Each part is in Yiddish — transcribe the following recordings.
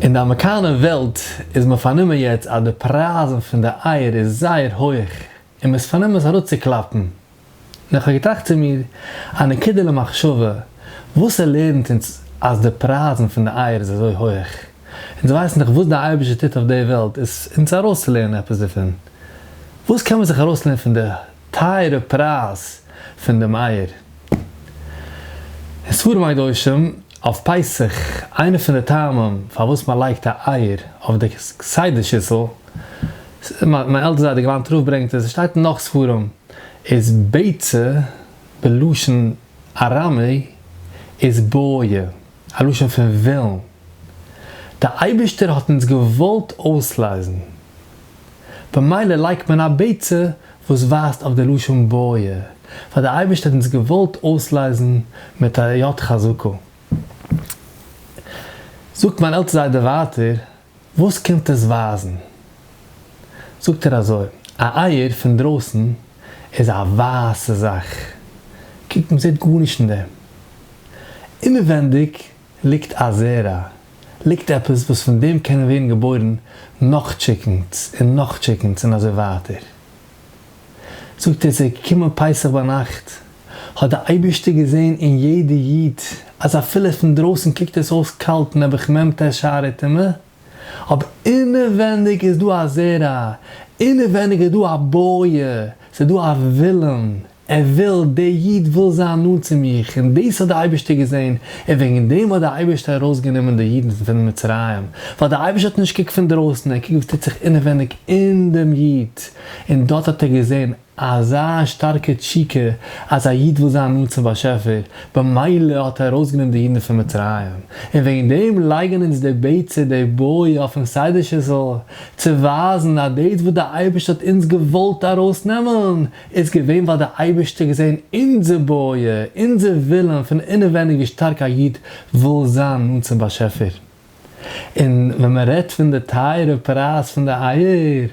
אין די אמערקאנע וועלט איז מען פארנומען יעצט אז די פרייזן פון די אייער איז זייער הויך און מען איז פארנומען עס אראפצוקלאפן. און איך האב געטראכט צו מיר, א נקודה למחשבה, וואס ער לערנט אונז אז די פרייזן פון די אייער איז אזוי הויך? אונז ווייסן דאך וואס די אייבערשטער טוט אויף די וועלט, איז אונז ארויסצולערנען עפעס דערפון? וואס קען מען זיך ארויסלערנען פון די. טייערע פרייז פון דעם אייער. און ספרים הקדושים אויף פסח, איינע פון די טעמים פארוואס מען לייגט א אייער אויף די סדר שיסל, מיין עלטער זיידע געלאנט רב ברענגט עס, עס שטייט אין נאך ספרים, איז ביצה בלשון ארמי איז בויע. א לשון פון ווילן. דער אייבערשטער האט אונז געוואלט אויסלייזן. במילא לייגט מען א בעצה וואס ווייזט אויף די לשון בויע, ווייל דער אייבערשטער האט אונז געוואלט אויסלייזן מיט א יד חזקה. זאגט מיין עלטסטע זיידע ווייטער. וואס קומט עס ווייזן? זאגט ער אזוי, א אייער פון דרויסן איז א ווייסע זאך, קוק מען זעט גארנישט אין דעם, אינעווענדיג ליגט א זרע, ליגט עפעס וואס פון דעם קענען ווערן געבוירן נאך טשיקענס און נאך טשיקענס און אזוי ווייטער, זאגט ער, ס'איז געקומען פסח ביינאכט, האט דער אייבערשטער געזען אין יעדע איד אז אפילו פון דרויסן קוקט עס אויס קאלט נעבעך מ ט שערי טומאה, אבער אינעווענדיג איז דא א זרע, אינעווענדיג איז דא א בויער, ס'איז דא א ווילן, ער וויל, דער איד וויל זיין נאנט צו מיך, און דאס האט דער אייבערשטער געזען, און וועגן דעם האט דער אייבערשטער ארויסגענומען די אידן פון מצרים, ווייל דער אייבערשטער האט נישט געקוקט פון דרויסן, ער קוקט וואס טוט זיך אינעווייניג אין דעם איד, און דארט האט ער געזען אזא שטארקע תשוקה אז א איד וויל זיין נאנט צום באשעפער, במילא האט ער ארויסגענומען די אידן פון מצרים, און וועגן דעם לייגן אונז די ביצה, די בוי, אויפן סדר שיסל, צו ווייזן אז דאס וואס דער אייבערשטער האט אונז געוואלט ארויסנעמען, איז געווען ווייל דער אייבערשטער האט געזען אונזער בויער, אונזער ווילן פון אינעווייניג ווי שטארק א איד וויל זיין נאנט צום באשעפער. און ווען מען רעדט פון די טייערע פרייז פון די אייער,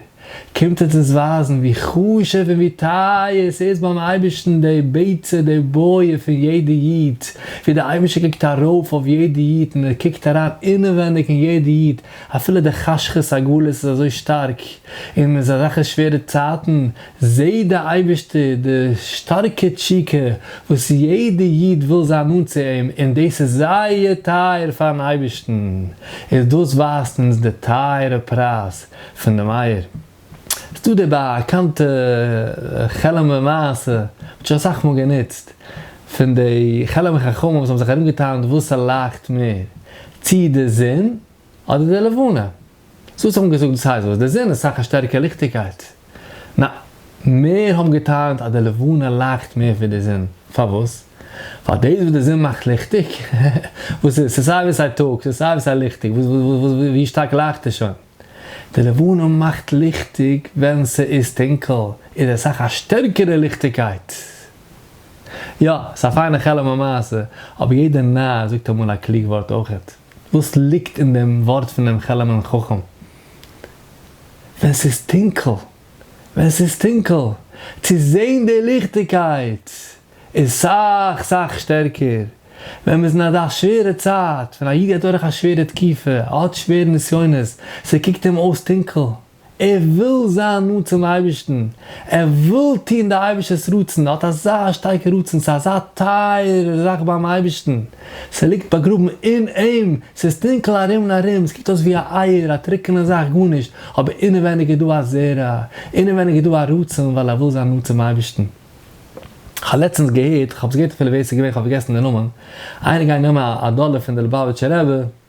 קומט עס אונז ווייזן ווי חשוב און ווי טייער ס'איז ביים אייבערשטן די ביצה, די בויער פון יעדע איד, ווי דער אייבערשטער קוקט ארויף אויף יעדע איד און ער קוקט אריין אינעווייניג אין יעדע איד, אפילו די חשכות הגלות איז אזוי שטארק און מ'איז אזעלכע שווערע צייטן, זעה די אייבערשטער די שטארקע תשוקה וואס יעדע איד וויל זיין נאנט צו אים און דאס איז זייער טייער פארן אייבערשטן איז דאס ווייזט אונז די טייערע פרייז פון דעם אייער. ס'דא די באקאנטע חעלעמער מעשה מ'האט שוין אסאך מאל גענוצט פון די חעלעמער חכמים וואס האבן זיך ארומגעטענהט וואס ס'לייכט מער צי די זון אדער די לבנה. זאָלסט האָבן געזאָגט דאָס הײסט, װאָס דער זון איז סך אַ שטערקער ליכטיקײט. נאַ, מיר האָבן געטענהט, אַז די לבֿנה לײַכט מער װי דער זון. פֿאַר װאָס? װײַל דאָס, װאָס דער זון מאַכט ליכטיק, װאָס ס'איז ס'איז סײַ װי סײַ טאָג, ס'איז סײַ װי סײַ ליכטיק, װאָס, װאָס, װאָס, װי שטאַרק לײַכט עס שױן. די לבֿנה מאַכט ליכטיק, װען ס'איז טונקל, איז עס סך אַ שטערקערע ליכטיקײט. יאָ, ס'איז אַ פֿײַנע חלום אַ מעשׂה, אָבער יעדער נאַר זאָגט אַ מאָל אַ קלוג װאָרט אױכעט. וואס ליגט אין דעם ווארט פון דעם חלומ'ן חכם? ווען ס'איז טונקל, ווען ס'איז טונקל, צו זען די ליכטיגקייט איז סאך סאך שטערקער. ווען מ'איז אין אזא שווערע צייט, ווען א איד גייט דורך א שווערע תקופה, האט שווערע נסיונות, ס'קוקט אים אויס טונקל, ער וויל זיין נאנט צום אייבערשטן, ער וויל טון די אייבערשטער'ס רצון, ער האט אזא שטארקע רצון, ס'איז אזא טייערע זאך ביים אייבערשטן, ס'ליגט באגראבן אין אים, ס'איז טונקל ארום און ארום, ס'קוקט אויס ווי א אייער, א טרוקענע זאך, גארנישט, אבער אינעווייניג איז דא א זרע, אינעווייניג איז דא א רצון ווייל ער וויל זיין נאנט צום אייבערשטן. כ'האב לעצטנס געהערט, כ'האב עס געהערט אפילו ווער ס'איז געווען, כ'האב פארגעסן די נאמען, איינער גייט נעמען א דאלער פון די ליבאוויטשער רבי,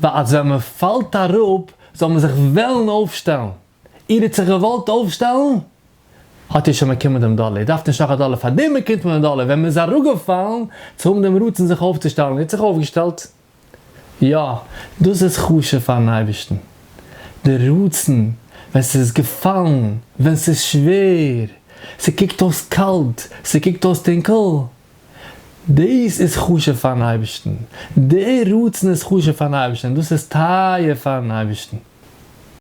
ווייל אז ווען מען פאלט אראפ זאל מען זיך וועלן אויפשטעלן, איר האט זיך געוואלט אויפשטעלן? האט איר שוין באקומען דעם דאלער, איר דארפט נישט נאך א דאלער, פאר דעם באקומט מען דעם דאלער ווען מען איז אראפגעפאלן צו האבן דעם רצון זיך אויפצושטעלן, איר האט זיך אויפגעשטעלט? יא, דאס איז חשוב פאר'ן אייבערשטן, די רצון ווען ס'איז געפאלן, ווען ס'איז שווער, ס'קוקט אויס קאלט, ס'קוקט אויס טונקל, דאס איז חשוב פאר'ן אייבערשטן, דער רצון איז חשוב פאר'ן אייבערשטן, און דאס איז טייער פאר'ן אייבערשטן.